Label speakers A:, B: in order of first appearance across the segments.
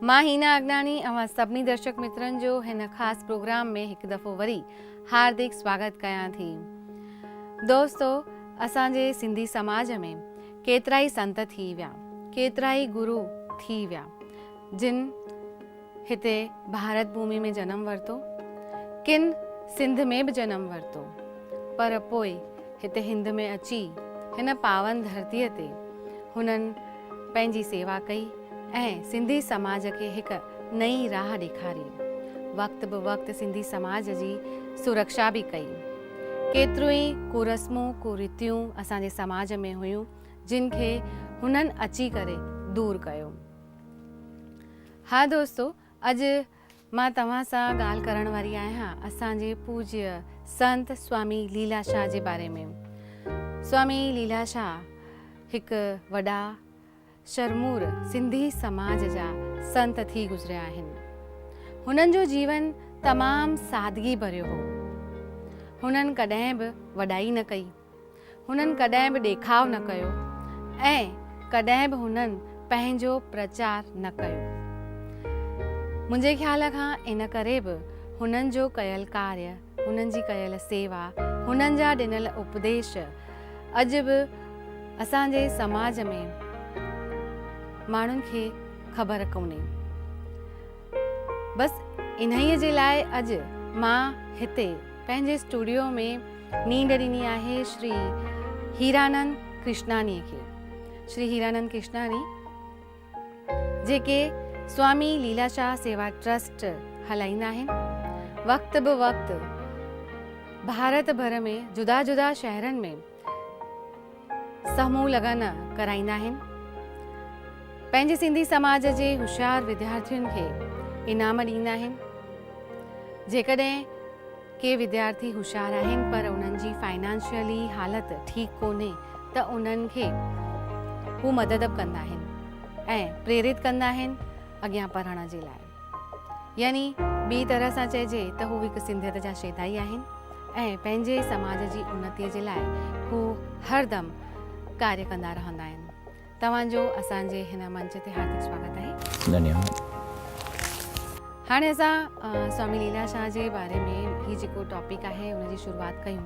A: مان هينا اڳناڻي اوهان سڀني درشڪ مترن جو هن خاص پروگرام ۾ هڪ دفعو وري هاردڪ سواگت ڪيان ٿي دوستو اسان جي سنڌي سماج ۾ ڪيترائي سنت ٿي ويا ڪيترائي گرو ٿي ويا جن هتي ڀارت ڀومي ۾ جنم ورتو. ڪن سنڌ ۾ به جنم ورتو. پر پوء هتي هند ۾ اچي هن پاون ڌرتيء تي هنن پنهنجي سيوا ڪئي ۽ سنڌي سماج کي هڪ نئين راهه ڏيکاري. وقت به وقت سنڌي سماج جي سرڪشا به ڪئي. ڪيتريون ئي ڪورسمون، ڪوريتيون اسان جي سماج ۾ هيون، جن کي هنن اچي ڪري دور ڪيو. ها دوستو اڄ مان توهان سان ڳالهه ڪرڻ واري آهيان اسان جي پوجيه سنت سوامي ليلا شاهه جي باري ۾ سوامي ليلا شاهه هڪ وڏا شرمور سنڌي سماج جا سنت ٿي گذريا آهن هنن جو جيون تمام سادگي ڀريو هو هنن ڪڏهن به وڏائي نه ڪئي هنن ڪڏهن به ڏيکاء نه ڪيو ۽ ڪڏهن به هنن پنهنجو پرچار نه ڪيو. منهنجي خيال کان ان ڪري به هنن جو ڪيل ڪاري، هنن جي ڪيل سيوا، هنن جا ڏنل اپديش اڄ به اسان جي سماج ۾ ماڻهن کي خبر ڪونهي. بس انهيء جي لاء اڄ مان هتي پنهنجي اسٽوڊيو ۾ نينڊ ڏني آهي شري هيرانند ڪرشناڻي کي. شري هيرانند ڪرشناڻي جيڪي سوامي ليلا شاهه سيوا ٽرسٽ هلائيندا آهن، وقت به وقت ڀارت ڀر ۾ جدا جدا شهرن ۾ سهمون لگن ڪرائيندا آهن پنهنجي سنڌي سماج جي هوشيار وديارٿين کي انعام ڏيندا آهن جيڪڏهن ڪي وديارٿي هوشيار آهن پر انهن جي فائنانشلي حالت ٺيڪ ڪونهي ته انهن کي هو مدد به ڪندا آهن ۽ پريرت ڪندا آهن اڳيان پڙهڻ جي لاء يعني ٻي طرح سان چئجي ته هو هڪ سنڌيت جا شيدائي آهن ۽ پنهنجي سماج جي انتي جي لاء هو هر دم ڪاري ڪندا رهندا آهن. توهان جو اسان جي هن منچ تي هاردڪ سواگت آهي. ڌنيواد. هاڻي اسان سوامي ليلا شاهه جي باري ۾ هي جيڪو ٽاپڪ آهي ان جي شروعات ڪيون.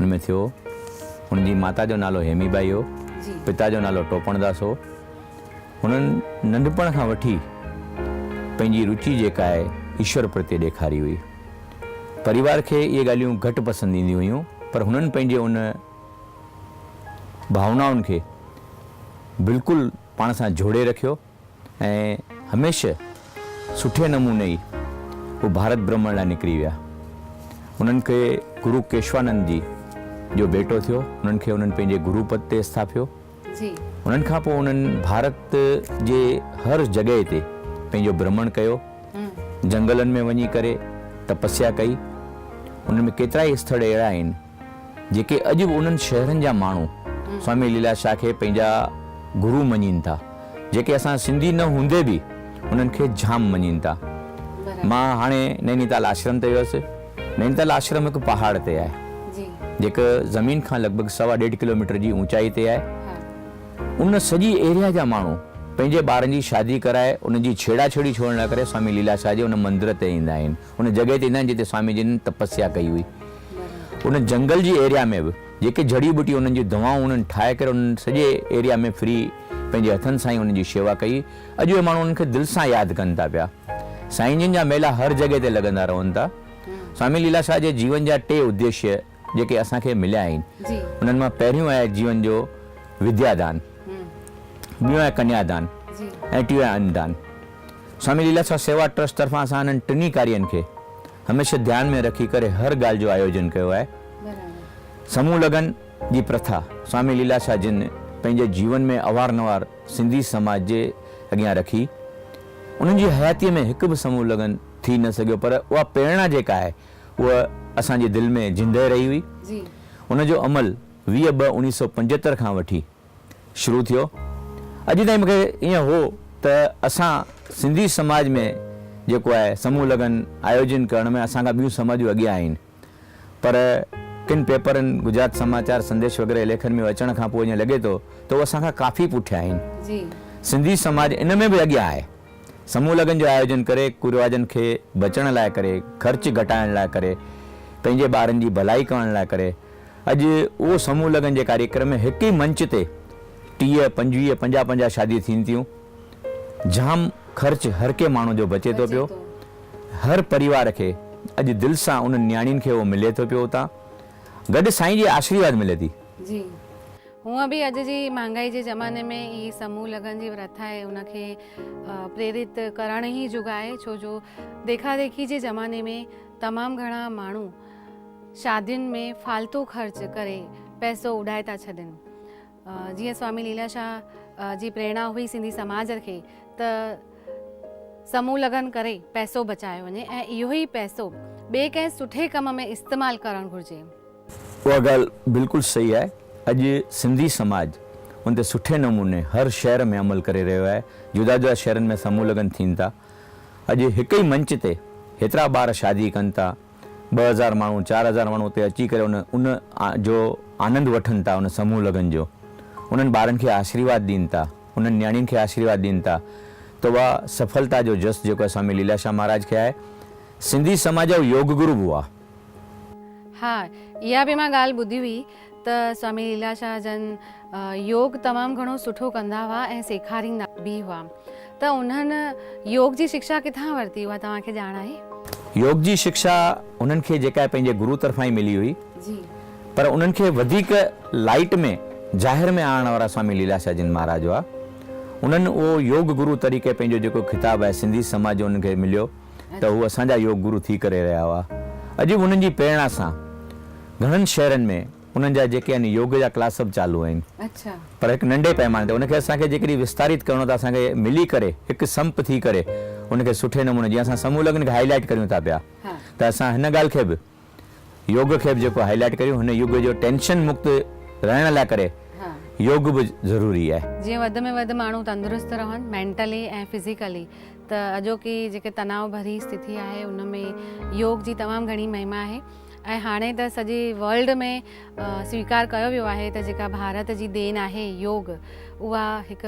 B: هن ۾ ٿيو. هن جي ماتا جو نالو هيمي ٻائي هو. پتا جو نالو ٽوپڻ داس هو. هنن ننڍپڻ کان وٺي پنهنجي روچي جيڪا آهي ايشور پرتي ڏيکاري هئي. پريوار کي اهي ڳالهيون گهٽ پسند اينديون هيون پر هنن پنهنجي ان ڀاونائن کي بلڪل پاڻ سان جوڙي رکيو. ۽ هميشه سٺي نموني ئي هو ڀارت برهمڻ لاء نڪري ويا. انهن کي گرو ڪيشوانند جي جو ڀيٽو ٿيو، انهن کي انهن پنهنجي گرو پد تي اسٿاپيو. انهن کان پوء انهن ڀارت جي هر جڳهه تي پنهنجو برهمڻ ڪيو. جنگلن ۾ وڃي ڪري تپسيا ڪئي. انهن ۾ ڪيترائي اسٿڙ اهڙا آهن، جيڪي اڄ به انهن شهرن جا ماڻهو سوامي ليلا شاهه کي پنهنجا گرو مڃين ٿا، جيڪي اسان سنڌي نه هوندي به انهن کي جام مڃين ٿا. مان هاڻي نئنيتال آشرم تي ويس. نئنيتال آشرم هڪ پهاڙ تي آهي، جيڪو زمين کان لڳ ڀڳ سوا ڏيڍ ڪلوميٽر جي اوچائي تي آهي. ان سڄي ايريا جا ماڻهو پنهنجي ٻارن جي شادي ڪرائي انهن جي ڇيڙاڇيڙي ڇوڙڻ لاء ڪري سوامي ليلا شاهه جي ان مندر تي ايندا آهن. ان جڳهه تي ايندا آهن جتي سوامي جن تپسيا ڪئي هئي. ان جنگل جي ايريا ۾ به جيڪي جڙي ٻوٽي انهن جون دوائون انهن ٺاهي ڪري انهن سڄي ايريا ۾ فري پنهنجي هٿن سان ئي انهن جي شيوا ڪئي. اڄ اهي ماڻهو انهن کي دل سان ياد ڪن ٿا پيا. سائين جن جا ميلا هر جڳهه تي لڳندا رهن ٿا. سوامي ليلا شاهه جي جيون جا ٽي اديشيه. جيڪي اسان کي مليا آهن، انهن مان پهريون آهي جيون جو وديا دان، ٻيون آهي ڪنيا دان ۽ ٽيون آهي ان دان. سوامي ليلاسوا سيوا ٽرسٽ طرفان اسان انهن ٽنهي ڪارين کي هميشه ڌيان ۾ رکي ڪري هر ڳالهه جو آيوجن ڪيو آهي. سمون لگن جي پرٿا سوامي ليلاسوا جن پنهنجي جيون ۾ اوهار نوهار سنڌي سماج جي اڳيان رکي. انهن جي حياتيء ۾ هڪ به سمون لگن ٿي نه سگهيو پر اها پريرڻا جيڪا آهي، هوء اسان جي دل ۾ زندهه رهي هئي. ان جو
A: عمل
B: ويهه ٻه اڻيهه سؤ پنجهتر کان وٺي شروع ٿيو. اڄ تائين مونکي ائين هو ته اسان سنڌي سماج ۾ جيڪو آهي سمون لگن آيوجن ڪرڻ ۾ اسان کان ٻيون سماجون اڳيان آهن پر ڪن پيپرن گجرات سماچار سنديش وغيره ليکن ۾ اچڻ کان پوء جئين لڳي ٿو ته هو اسان کان ڪافي پٺيان آهن. سنڌي
A: سماج
B: ان ۾ به اڳيان آهي. سمون لگن جو آيوجن ڪري ڪريواجن کي بچڻ لاء ڪري خرچ گهٽائڻ لاء ڪري پنهنجي ٻارن جي ڀلائي ڪرڻ لاء ڪري اڄ اهو سمون لگن جي ڪاريڪرم ۾ هڪ ئي منچ تي ٽيهه پنجويهه پنجاهه پنجاهه شاديون ٿين ٿيون جام خرچ هر ڪنهن ماڻهو جو بچي ٿو پيو هر پريوار کي اڄ دل سان انهن نياڻين کي اهو ملي ٿو پيو اتان گڏ سائين جي آشريواد ملي ٿي.
A: هونء به اڄ جي مهانگائي جي زماني ۾ هي سموهه لگن جي ورٿ آهي ان کي پريرت ڪرڻ ئي جوڳ آهي ڇو جو ديکا ديکي جي زماني ۾ تمام گهڻا ماڻهو شادين ۾ فالتو خرچ ڪري پئسو اڏائي ٿا ڇڏين جيئن سوامي ليلا شاهه جي پريرنا هئي سنڌي سماج کي ته سموهه لگن ڪري پئسو بچايو وڃي ۽ اهو ئي پئسو ٻئي ڪنهن سٺي ڪم ۾ استعمال ڪرڻ گهرجي. اها ڳالهه
B: بلڪل صحيح آهي. اڄ سنڌي سماج ان تي سٺي نموني هر شهر ۾ عمل ڪري رهيو آهي. جدا جدا شهرن ۾ سمون لگن ٿين ٿا. اڄ هڪ ئي منچ تي هيترا ٻار شادي ڪن ٿا. ٻه هزار ماڻهو، چار هزار ماڻهو اتي اچي ڪري ان ان جو آنند وٺن ٿا ان سمون لگن جو. انهن ٻارن کي آشيرواد ڏين ٿا. انهن نياڻين کي آشيرواد ڏين ٿا. ته اها سڦلتا جو جس جيڪو اسامي ليلاشاه مهاراج کي آهي. سنڌي سماج جا هو يوگ گرو به هئا. ها
A: اها به مان ڳالهه ٻڌي هئي ته سوامي ليلا شاهه جن يوگ تمام گهڻو سٺو ڪندا هئا ۽ سيکاريندا به هئا ته انهن يوگ جي شڪشا ڪٿان ورتي اها توهان کي ڄاڻ آهي؟ يوگ جي شڪشا
B: انهن کي جيڪا پنهنجي گرو طرفان ئي ملي هئي پر
A: انهن کي
B: وڌيڪ لائيٽ ۾ ظاهر ۾ آڻڻ وارا سوامي ليلا شاهه جن مهاراج هئا انهن اهو يوگ گرو طريقي پنهنجو جيڪو خطاب آهي سنڌي سماج جو انهن کي مليو. ته هو اسان جا يوگ گرو ٿي ڪري رهيا هئا. اڄ به انهن جي پريڻا سان گهڻن شهرن ۾ انهن جا جيڪي آهن يوگ جا ڪلاس سڀ چالو آهن. پر هڪ
A: ننڍي پئماني
B: تي ان کي اسان کي جيڪڏهن وستاريت ڪرڻو ته اسان کي ملي ڪري هڪ سمپ ٿي ڪري ان کي سٺي نموني جيئن اسان سمون لڳن کي هائي لائيٽ ڪريون ٿا پيا ته اسان هن ڳالهه کي به يوگ کي به جيڪو هائي لائيٽ ڪريون هن يگ جو ٽينشن مڪت رهڻ لاء ڪري يوگ به ضروري آهي. جيئن وڌ ۾ وڌ ماڻهو
A: تندرست رهن مينٽلي ۽ فزيڪلي ته اڄوڪي جيڪي تناء ڀري استٿي آهي ان ۾ يوگ جي تمام گهڻي مهما آهي ۽ هاڻي ته سڄي ورلڊ ۾ سويڪار ڪيو ويو آهي ته جيڪا ڀارت جي دين آهي يوگ اها هڪ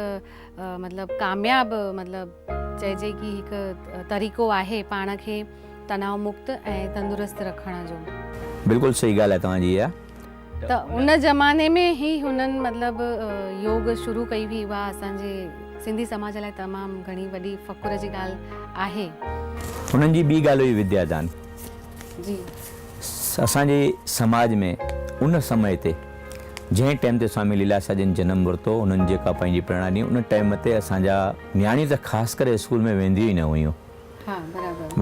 A: مطلب ڪامياب مطلب چئجي ڪي هڪ طريقو آهي پاڻ کي تناو مڪت ۽ تندرست رکڻ جو. بلڪل صحيح
B: ڳالهه آهي توهان جي اها. ته ان
A: زماني ۾ هي هنن مطلب يوگ شروع ڪئي هئي اها اسان جي سنڌي سماج لاء تمام گهڻي وڏي فخر جي ڳالهه آهي. هنن جي
B: ٻي ڳالهه هئي وديا دان.
A: جي.
B: اسان جي سماج ۾ ان سمي تي جنهن ٽيم تي سوامي ليلاسا جن جنم ورتو انهن جيڪا پنهنجي پريڙا ڏني ان ٽيم تي اسان جا نياڻيون ته خاص ڪري اسڪول ۾ وينديون ئي نه هيون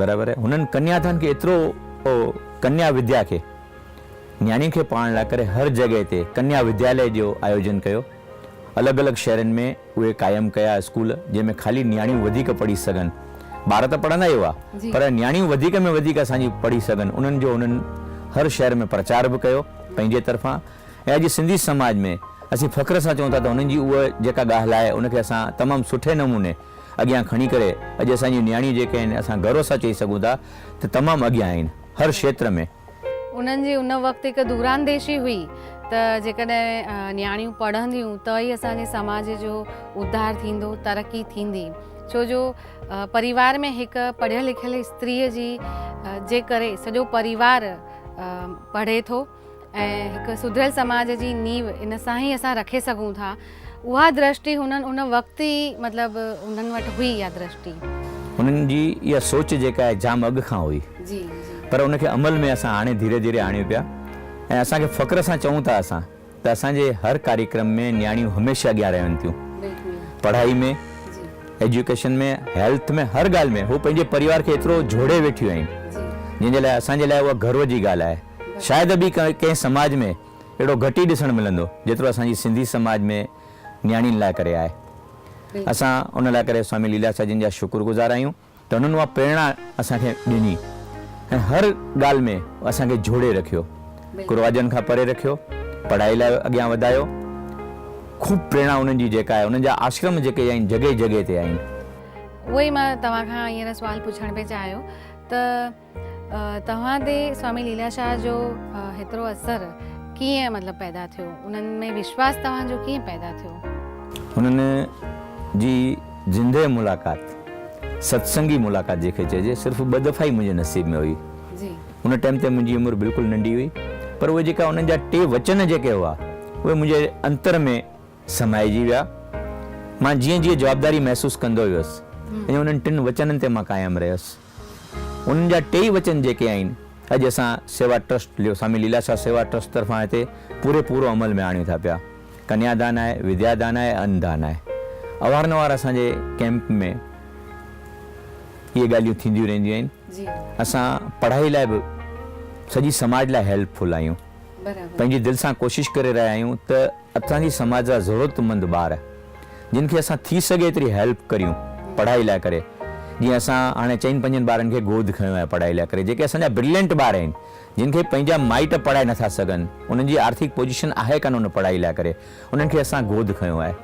B: برابر آهي هنن ڪنيا ڌن کي ايترو ڪنيا وديا کي نياڻين کي پڙهائڻ لاء ڪري هر جڳهه تي ڪنيا وديالي جو آيوجن ڪيو الڳ الڳ شهرن ۾ اهي قائم ڪيا اسڪول جنهن ۾ خالي نياڻيون وڌيڪ پڙهي سگهن. ٻار ته پڙهندا ئي هئا پر نياڻيون وڌيڪ ۾ وڌيڪ اسان جي پڙهي سگهن انهن جو هنن هر شهر ۾ پرچار به ڪيو پنهنجي طرفان ۽ اڄ سنڌي سماج ۾ اسين فخر سان چئون ٿا ته هنن جي اها جيڪا ڳاهل آهي ان کي اسان تمام سٺي نموني اڳيان کڻي ڪري اڄ اسان جون نياڻيون جيڪي آهن اسان گرو سان چئي سگهون ٿا ته تمام اڳيان آهن هر شيتر ۾. انهن جي ان وقت هڪ
A: دورانديشي هئي ته جيڪڏهن نياڻيون پڙهنديون ته ئي اسان جي سماج جو اڌار ٿيندو، ترقي ٿيندي. ڇو جو پريوار ۾ هڪ پڙهيل لکيل استريء جي جي ڪري سڄو پريوار پڙهي ٿو ۽ هڪ سڌريل سماج جي نينهن ان سان ئي اسان رکي سگهون ٿا. اها درشٽي هنن ان وقت ئي مطلب هنن وٽ هئي اها درشٽي. هنن
B: جي اها سوچ جيڪا آهي جام اڳ کان هئي پر ان کي عمل ۾ اسان هاڻي ڌيري ڌيري آڻيون پيا ۽ اسان کي فخر سان چئون ٿا اسان ته اسان جي هر ڪاريڪرم ۾ نياڻيون هميشه اڳيان رهن ٿيون پڙهائي ۾ ايجوڪيشن ۾ هيلٿ ۾ هر ڳالهه ۾ هو پنهنجي پريوار کي ايترو جوڙي ويٺيون آهن جنهن جي لاء اسان جي لاء اها گرو جي ڳالهه آهي شايد ٻي ڪنهن سماج ۾ اهڙو گهٽ ئي ڏسڻ ملندو جيترو اسان جي سنڌي سماج ۾ نياڻين لاء ڪري آهي. اسان ان لاء ڪري سوامي ليلا ساهه جن جا شڪر گذار آهيون ته هنن اها پريرڻا اسان کي ڏني ۽ هر ڳالهه ۾ اسان کي جوڙي رکيو، ڪرواجن کان پري رکيو، پڙهائي لاء اڳيان وڌايو، خوب پريرڻا انهن جي جيڪا آهي انهن جا آشرم جيڪي آهن جڳهه جڳهه تي آهن. اهو ئي مان
A: توهان کان هينئر سوال پڇڻ پئي چاهيو ته. توهان تي سوامي ليلا شاهه جو هيترو اثر ڪيئن مطلب پيدا ٿيو انهن ۾ وشواس توهان جو ڪيئن پيدا ٿيو؟ انهن
B: جي زندهه ملاقات، ستسنگي ملاقات جنهن کي چئجي صرف ٻه دفعا ئي منهنجي نصيب ۾ هئي. ان
A: ٽائيم تي منهنجي
B: عمر بلڪل ننڍي هئي پر اهي جيڪا انهن جا ٽي وچن جيڪي هئا اهي منهنجي انتر ۾ سمائجي ويا. مان جيئن جيئن جوابداري محسوس ڪندو ويس ايئن انهن ٽن وچنن تي مان قائم رهيس. انهن جا ٽيئي وچن جيڪي آهن اڄ اسان سيوا ٽرسٽ ليو سامي ليلا شاهه سيوا ٽرسٽ طرفان هتي پوري پورو عمل ۾ آڻيون ٿا پيا ڪنيا دان آهي وديا دان آهي ان دان آهي اوهار نوهار اسان جي ڪيمپ ۾ اهي ڳالهيون ٿينديون رهنديون آهن اسان پڙهائي لاء به سڄي سماج لاء هيلپ فل آهيون پنهنجي دل سان ڪوشش ڪري رهيا آهيون ته اسان جي سماج جا ضرورت مند ٻار جن کي اسان ٿي سگهي ايتري هيلپ ڪريون پڙهائي لاء ڪري جيئن اسان هاڻي چئن پنجن ٻارن کي گود کنيو آهي پڙهائي لاء ڪري جيڪي اسان جا برلينٽ ٻار آهن جن کي پنهنجا مائٽ پڙهائي نٿا سگهن انهن جي آرٿڪ پوزيشن آهي ڪانه ان پڙهائي لاء ڪري انهن کي اسان گود کنيو آهي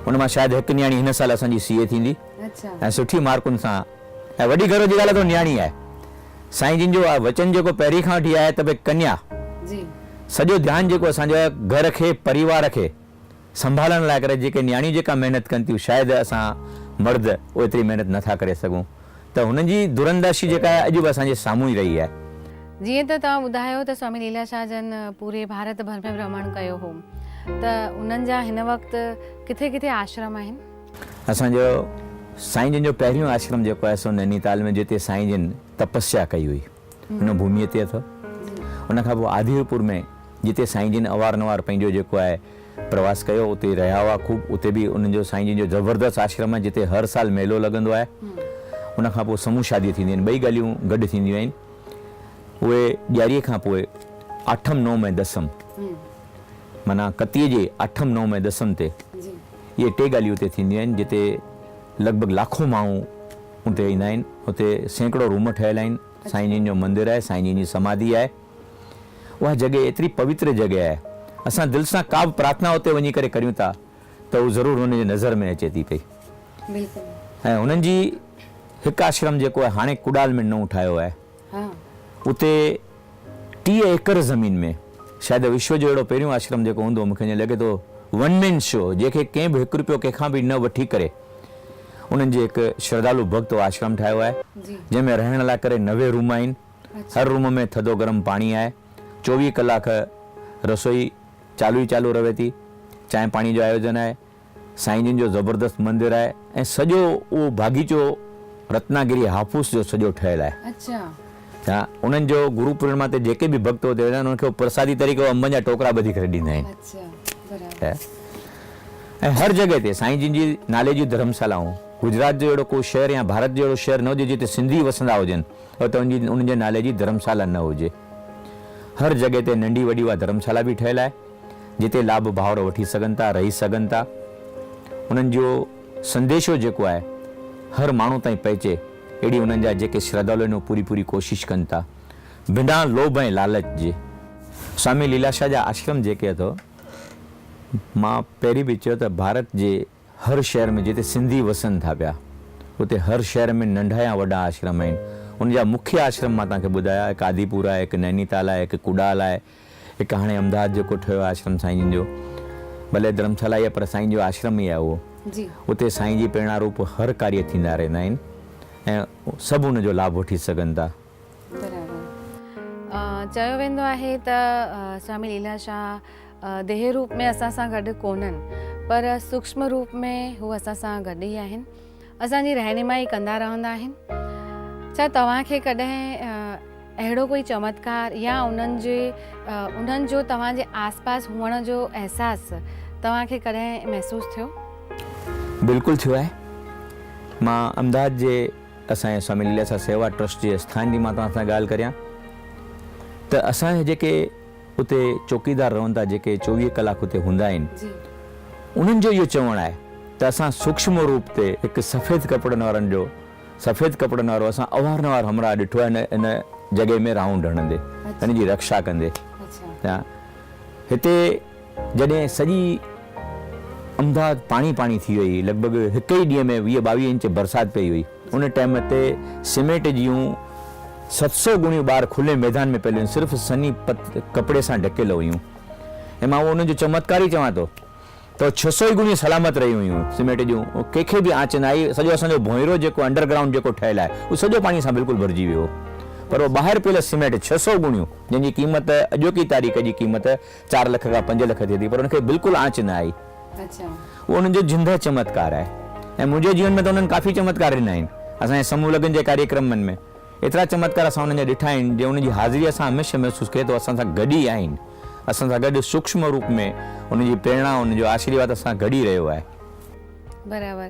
B: ان مان شايد هڪ نياڻي هن سال اسان جي سي اي ٿيندي ۽ سٺي مارڪن سان ۽ وڏي گروء جي ڳالهه ته نياڻي آهي سائين جن جو وچن جيڪو پهرين کان وٺي آهي ته ڀئي ڪنيا جي سڄو ڌيان جيڪو اسان جا گهر کي پريوار کي سنڀالڻ لاء ڪري جيڪي نياڻيون جيڪا محنت ڪن ٿيون شايد اسان مرد اوتري محنت نه ٿا ڪري سگهون ته هنن جي درانداشي جيڪا آهي اڄ به اسان جي سامهون ئي رهي آهي. جيئن ته توهان
A: ٻڌايو ته سوامي ليلا شاهه جن پوري ڀارت ڀر ۾ ڀرمڻ ڪيو هو ته انهن جا هن وقت ڪٿي ڪٿي آشرم آهن؟ اسان جو
B: سائين جن جو پهريون آشرم جيڪو آهي سو نئنيتال ۾ جتي سائين جن تپسيا ڪئي هئي. ان ڀوميء تي اٿو. ان کان پوء آڌيرپور ۾ جتي سائين جن اوارنوار پنهنجو جيڪو آهي پرواس ڪيو اتي رهيا هئا خوب اتي به انهن جو سائين جن جو زبردست آشرم آهي جتي هر سال ميلو لڳندو آهي ان کان پوء سمون شاديون ٿينديون آهن ٻئي ڳالهيون گڏ ٿينديون آهن اهي ڄاريء کان پوء آٺم نوم ۽ دسم معنيٰ ڪتيء جي آٺم نوم ۽ دسم تي اهي ٽي ڳالهيون اتي ٿينديون آهن جتي لڳ ڀڳ لاکون ماڻهو اتي ايندا آهن اتي سيڪڙو روم ٺهيل آهن سائين جن جو مندر آهي سائين جن جي سماڌي آهي اها جڳهه ايتري پوتر جڳهه آهي اسان دل سان ڪا به پرارٿنا اتي وڃي ڪري ڪريون ٿا ته هو ضرور هنن جي نظر ۾ اچي ٿي پئي ۽ هنن جي هڪ آشرم جيڪو آهي هاڻي ڪڏال ۾ نئون ٺاهيو آهي اتي ٽيهه ايڪڙ زمين ۾. شايد وشو جو اهڙو پهريون آشرم جيڪو هوندو، مون کي ائين لڳي ٿو ون مين شو جنهن کي ڪنهن به هڪ روپيو ڪنهن کان به نه وٺي ڪري انهن جي هڪ شردالو ڀڳت اهو آشرم ٺاهيو آهي جنهن ۾ رهڻ لاء ڪري نوي روم آهن هر روم ۾ ٿڌو گرم پاڻي آهي چوويهه ڪلاڪ رسوئي چالو ئي چالو رهي ٿي چانهه پاڻي جو آيوجن آهي سائين جن جو زبردست مندر آهي ۽ سڄو اهو باغيچو رتناگري هافوس جو سڄو ٺهيل آهي. اچا. انهن جو گرو پورڻما تي جيڪي به ڀڳت اتي ويندا آهن انهن کي اهو پرسادي طريقي اهو انبن جا ٽوڪرا ٻڌي ڪري ڏيندا آهن. اچا برابر. ۽ هر جڳهه تي سائين جن جي نالي جون ڌرمسالائون گجرات جو اهڙو ڪو شهر يا ڀارت جو اهڙو شهر نه هجي جتي سنڌي وسندا هجن اتي انهن جي انهن جي نالي جي ڌرمسالا نه هجي. هر جڳهه تي ننڍي وڏي اها ڌرمسالا به ٺهيل آهي. جتي لاڀ ڀائر وٺي سگهن ٿا رهي سگهن ٿا انهن جو سنديشو جيڪو آهي هر ماڻهو تائين پهچي اهڙي انهن جا جيڪي شردالو آهن اهي پوري پوري ڪوشش ڪن ٿا بنا لوڀ ۽ لالچ جي سوامي ليلاشا جا آشرم جيڪي اٿو مان پهرين به چيو ته ڀارت جي هر شهر ۾ جتي سنڌي وسن ٿا پيا اتي هر شهر ۾ ننڍا يا وڏا آشرم آهن ان جا مکيه آشرم مان توهان کي ٻڌايا هڪ آديپور آهي هڪ نينيتال آهي هڪ ڪوڏال آهي هڪ هاڻي امداد جيڪو ٺهيو آهي آشرم سائين جن جو ڀلي ڌرمشالا ئي آهي پر سائين جو آشرم ئي آهي اهو اتي سائين جي پريڻا روپ هر ڪاري ٿيندا رهندا آهن ۽ سڀ ان جو لاڀ وٺي سگهن ٿا.
A: چيو ويندو آهي ته سوامي ليلا شاهه ديهي روپ ۾ اسان سان گڏ ڪونهن پر سوڪشم روپ ۾ هو اسان سان گڏ ئي آهن. اسان جي رهنمائي ڪندا رهندا آهن. ڇا توهان کي ڪڏهن اهڙو ڪوئي چمتڪار يا انهن جي انهن جو توهان جي آس پاس هئڻ جو احساس توهان کي ڪڏهن محسوس ٿيو؟ بلڪل
B: ٿيو آهي. مان امداد جي اسان جي سوامي ليلاسا سيوا ٽرسٽ جي اسٿان جي مان توهان سان ڳالهه ڪريان ته اسان جا جيڪي اتي چوڪيدار رهن ٿا جيڪي چوويهه ڪلاڪ اتي هوندا آهن انهن جو اهو چوڻ آهي ته اسان سوڪشم روپ تي هڪ سفيد ڪپڙن وارن جو سفيد ڪپڙن وارو اسان اوهارنوار همراهه ڏٺو آهي ان جڳهه ۾ رائونڊ هڻندي ان جي رڪشا ڪندي يا
A: هتي
B: جڏهن سڄي امداد پاڻي پاڻي ٿي وئي لڳ ڀڳ هڪ ئي ڏينهن ۾ ويهه ٻاويهه انچ برسات پئي هئي. ان ٽئم تي سيمينٽ جيون ست سئو گڻيون ٻار کلي ميدان ۾ پيل هيون صرف سني پت ڪپڙي سان ڍڪيل هيون ۽ مان اهو انهن جو چمتڪار ئي چوان ٿو ته اهي ڇهه سئو ئي گڻيون سلامت رهيون هيون سيمينٽ جون ڪنهن کي به آنچ نه آئي سڄو اسان جو ڀونئرو جيڪو انڊر گرائونڊ جيڪو ٺهيل آهي اهو سڄو پاڻي سان بلڪل ڀرجي ويو هو پر اهو ٻاهر پيل سيمينٽ ڇهه سئو گڻيون جنهن جي قيمت اڄوڪي تاريخ جي قيمت چار لک کان پنج لک ٿئي ٿي پر ان کي بلڪل آنچ نه آئي. اهو انهن جو زنده چمتڪار آهي ۽ منهنجي جيون ۾ ته انهن ڪافي چمتڪار ڏنا آهن. اسان جي سمون لگن جي ڪاريڪرمن ۾ ايترا چمتڪار اسان انهن جا ڏٺا آهن جو انهن جي حاضري اسان هميشه محسوس ڪيو ته اسان سان گڏ ئي آهن. اسان سان گڏ سوڪشم روپ ۾ انهن جي پريرڻا، انهن جو آشيرواد اسان سان گڏ ئي رهيو آهي. برابر.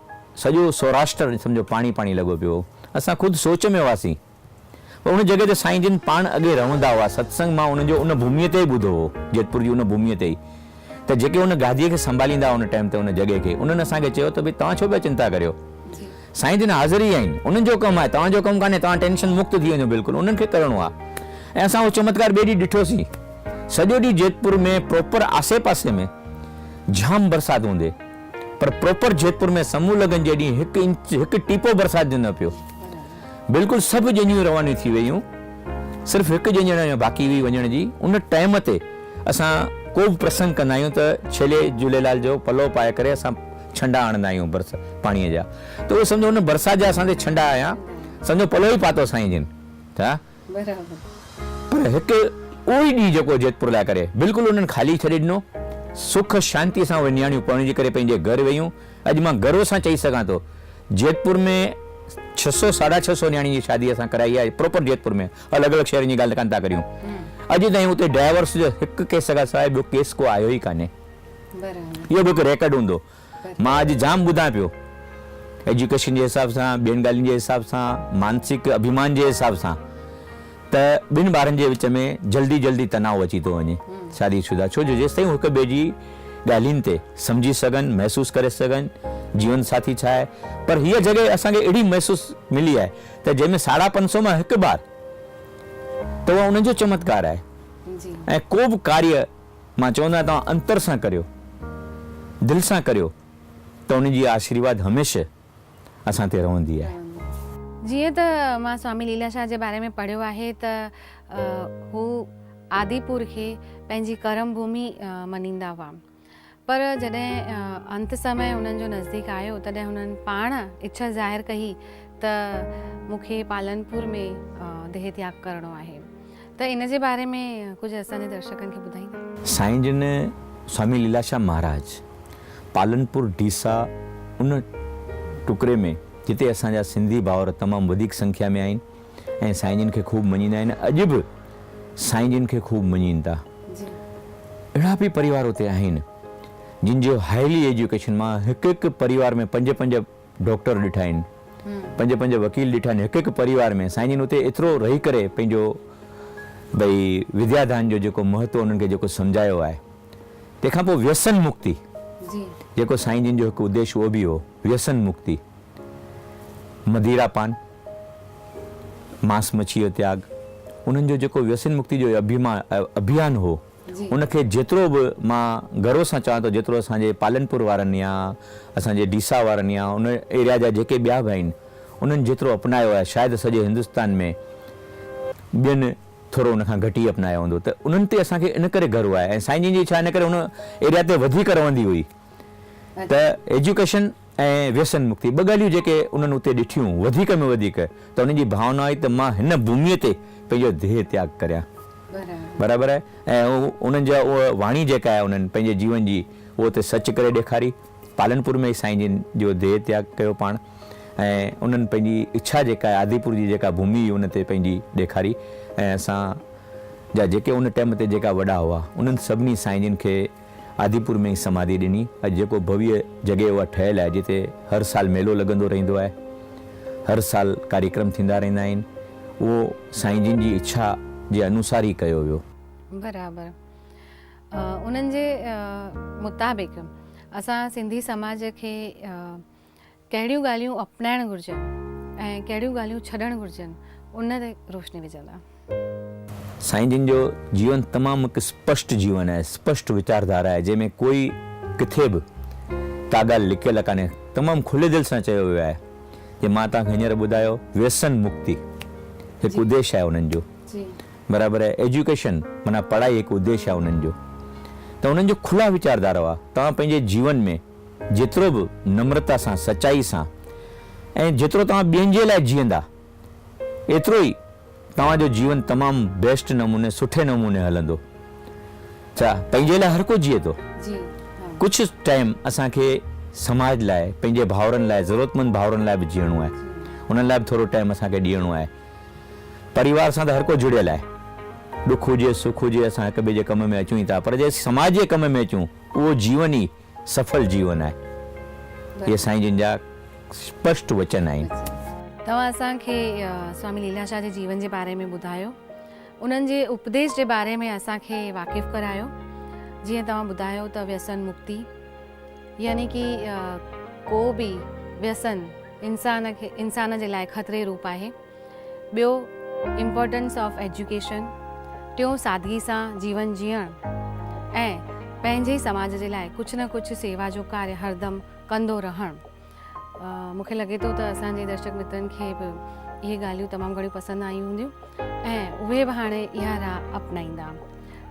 B: سڄو سوراشٽر سمجهو پاڻي پاڻي لڳو پيو هو. اسان خود سوچ ۾ هئاسين. پر ان جڳهه تي سائين جن پاڻ اڳي رهندا هئا. ستسنگ مان انهن جو ان ڀوميء تي ئي ٻڌو هو. جيتپور جي ان ڀوميء تي ئي. ته جيڪي ان گاديء کي سنڀاليندا هئا ان ٽائيم تي ان جڳهه کي. انهن اسان کي چيو ته ڀئي توهان ڇو پيا چنتا ڪريو. سائين جن حاضر ئي آهن. انهن جو ڪم آهي. توهان جو ڪم ڪانهي. توهان ٽينشن مڪت ٿي وڃو بلڪل. انهن کي ڪرڻو آهي. ۽ اسان اهو چمتڪار ٻئي ڏينهن ڏٺوسين. سڄو ڏينهن جيتپور ۾ پراپر آسي پاسي ۾ جام برسات هوندي. پر پروپر جيتپور ۾ سمون لڳن جيڏينهن هڪ انچ هڪ ٽيپو برسات جو نه پيو. بلڪل سڀ ڄڃون روانيون ٿي ويون. صرف هڪ ڄڃڻ اڃا باقي هئي وڃڻ جي. ان ٽائيم تي اسان ڪو به پرسنگ ڪندا آهيون ته ڇيلي جهوليلال جو پلو پائي ڪري اسان ڇنڊا آڻندا آهيون برس پاڻيء جا. ته اهو سمجهو ان برسات جا اسان تي ڇنڊا آيا. سمجهو پلو ئي پاتو سائين جن. ته برابر. پر هڪ اهو ئي ڏينهن جيڪو جيتپور لاء ڪري بلڪل انهن خالي ڇڏي ڏنو. سک شانتيء سان اهي نياڻيون پرڻجي ڪري پنهنجي گهر ويون. اڄ مان گروء سان چئي سگهان ٿو جيتپور ۾ ڇهه سؤ ساڍا ڇهه سؤ نياڻين جي شادي اسان ڪرائي آهي پراپر جيتپور ۾ الڳ الڳ شهرن جي ڳالهه ڪانه ٿا ڪريون. اڄ تائين اتي ڊائيورس جو هڪ ڪيس کان سواء ٻيو ڪيس ڪو آيو ئي ڪانهي. اهو به هڪ ريڪارڊ هوندو. مان اڄ جام ٻڌان پيو ايجوڪيشن جي حساب سان ٻين ڳالهين جي حساب سان مانسڪ اڀيمان جي حساب سان ته ٻن ٻارن جي وچ ۾ جلدي جلدي تناء اچي ٿو وڃي شادي شدا ڇو جو جيستائين هو هڪ ٻئي جي ڳالهين تي سمجهي سگهن محسوس ڪري سگهن جيون ساٿي ڇا آهي پر هيء جڳهه اسان کي اهڙي محسوس ملي آهي ته جنهن ۾ ساڍا پنج سؤ مان هڪ ٻار ته اها انهن جو چمتڪار آهي ۽ ڪو به ڪاريه مان چوندو آهيان توهان انتر سان ڪريو، دل سان ڪريو ته ان جي آشيرواد هميشه اسان تي رهندي آهي. جيئن ته
A: مان سوامي ليلا شاهه جي باري ۾ پڙهيو آهي ته هو آدي پور کي پنهنجي ڪرم ڀومي مڃيندا هئا پر جڏهن انت سمئي انهن جو نزديڪ آيو تڏهن هنن پاڻ اڇا ظاهر ڪهي ته مون کي پالنپور ۾ ديهتياگ ڪرڻو آهي. ته ان جي باري ۾ ڪجهه اسان جي درشڪن کي ٻڌائيندا. سائين جن
B: سوامي ليلاشام مهاراج پالنپور ڊيسا ان ٽڪري ۾ جتي اسان جا سنڌي ڀائور تمام وڌيڪ سنکيا ۾ آهن ۽ سائين جن کي خوب مڃيندا آهن اڄ به سائين جن کي خوب مڃين ٿا اهڙا به پريوار اتي آهن جن جو هائلي ايجوڪيشن مان هڪ هڪ پريوار ۾ پنج پنج ڊاڪٽر ڏٺائين، پنج پنج وڪيل ڏٺائين، هڪ هڪ پريوار ۾ سائين جن اتي ايترو رهي ڪري پنهنجو ڀئي وديا دان جو جيڪو مهتو انهن کي جيڪو سمجهايو آهي. تنهن کان پوء ويسن مڪتي جيڪو سائين جن جو هڪ اديش اهو به هو ويسن مڪتي، مديرا پان، ماس مڇيء جو تياڳ، انهن جو جيڪو ويسن مڪتي جو اڀيمان ابيان هو، ان کي جيترو به مان گروء سان چوان ٿو جيترو اسان جي پالنپور وارن يا اسان جي ڊيسا وارن يا ان ايريا جا جيڪي ٻيا به آهن انهن جيترو اپنايو آهي شايد سڄي هندستان ۾ ٻين ٿورو ان کان گهٽ ئي اپنايو هوندو ته انهن تي اسان کي ان ڪري گروء آهي ۽ سائين جن جي ڇا ان ڪري ان ايريا تي وڌيڪ رهندي هئي ته ايجوڪيشن ۽ ويسن مڪتي ٻه ڳالهيون جيڪي انهن اتي ڏٺيون وڌيڪ ۾ وڌيڪ ته انهن جي ڀاونا هئي ته مان هن ڀوميء تي پنهنجو ديهه تياڳ ڪريان برابر آهي ۽ انهن جا اهو واڻي جيڪا آهي انهن پنهنجي جيون جي اهو اتي سچ ڪري ڏيکاري پالنپور ۾ ئي سائين جن جو ديهه تياڳ ڪيو پاڻ ۽ انهن پنهنجي اڇا جيڪا آهي آديپور جي جيڪا ڀومي هئي ان تي پنهنجي ڏيکاري ۽ اسان جا جيڪي ان ٽيم تي جيڪا وڏا هئا انهن سڀني سائين جن کي آديپور ۾ ئي سماڌي ڏني. اڄ جيڪو ڀويء جڳهه اها ٺهيل آهي جتي هر سال ميلو لڳندو رهندو آهي. هر سال ڪاريڪرم ٿيندا رهندا آهن. اهو سائين جن جي اڇا جي انوسار ئي ڪيو ويو. برابر
A: انهن جي مطابق اسان سنڌي سماج کي ڪهڙيون ڳالهيون اپنائڻ گهرجن ۽ ڪهڙيون ڳالهيون ڇڏڻ گهرجن ان تي روشني وجهندا.
B: سائين جن جو جيون تمام هڪ اسپشٽ جيون آهي، اسپشٽ ويچاردارا آهي، جنهن ۾ ڪوئي ڪٿي به ڪا ڳالهه لڪيل ڪانهي، تمام کلي دل سان چيو ويو آهي، جي مان توهان کي هينئر ٻڌايو ويسن مڪتي هڪ اديش آهي انهن جو برابر آهي، ايجوڪيشن معنيٰ پڙهائي هڪ اديش آهي انهن جو ته انهن جو کلا ويچاردارا هئا، توهان پنهنجي جيون ۾. جيترو به نمرتا سان، سچائي سان ۽ جيترو توهان ٻين جي لاء جيئندا، ايترو ئي توهان جو جيون تمام بيسٽ نموني، سٺي نموني هلندو. ڇا پنهنجي لاء هر ڪو جيئي ٿو. ڪجهه ٽائيم اسان کي سماج لاء، پنهنجي ڀائرن لاء، ضرورتمند ڀائرن لاء به جيئڻو آهي. انهن لاء به ٿورو ٽائيم اسان کي ڏيئڻو آهي. پريوار سان ته هر ڪو جڙيل آهي. ڏک هجي، سک هجي، اسان هڪ ٻئي جي ڪم ۾ اچون ئي ٿا. پر جي سماج جي ڪم ۾ اچون، اهو جيون ئي. سڦل جيون آهي. اهي سائين جن جا اسپشٽ وچن آهن. توهان اسان
A: کي سوامي ليلاشاهه جي جيون جي باري ۾ ٻڌايو. انهن جي اپديش جي باري ۾ اسان کي واقف ڪرايو. جيئن توهان ٻڌايو ته ويسن مڪتي يعني ڪي ڪو به ويسن انسان کي انسان جي لاء خطري روپ آهي. ٻيو Importance of Education، ٽيون سادگي سان جيون جيئڻ ۽ پنهنجي سماج جي لاء ڪجهه نه ڪجهه سيوا جو ڪاري هردم ڪندو رهڻ. مون کي لڳي ٿو ته اسان جي درشڪ مترن کي به اهي ڳالهيون تمام گهڻيون پسند آيون هونديون ۽ اهي به هاڻي اها راهه اپنائيندا.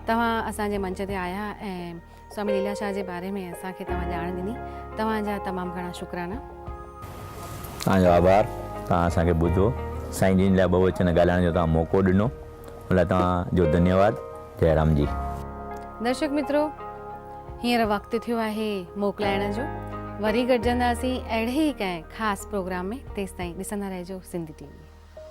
A: توهان اسان جي منچ تي آيا ۽ سوامي ليلا شاهه جي باري ۾ اسان کي توهان ڄاڻ ڏني توهان جا تمام گهڻا شڪرانا.
B: توهان جو آڀار توهان اسان کي ٻڌو سائين جن لاء ٻهوچن ڳالهائڻ جو توهان موقعو ڏنو ان لاء توهان جو ڌنيواد جئي رام جي. درشڪ
A: مترو هينئر وقت ٿيو آهي موڪلائڻ جو وري گڏجنداسين اهڙي ئي ڪنهن خاص پروگرام ۾ تيستائين ڏسندا رهجو سنڌي ٽي وي.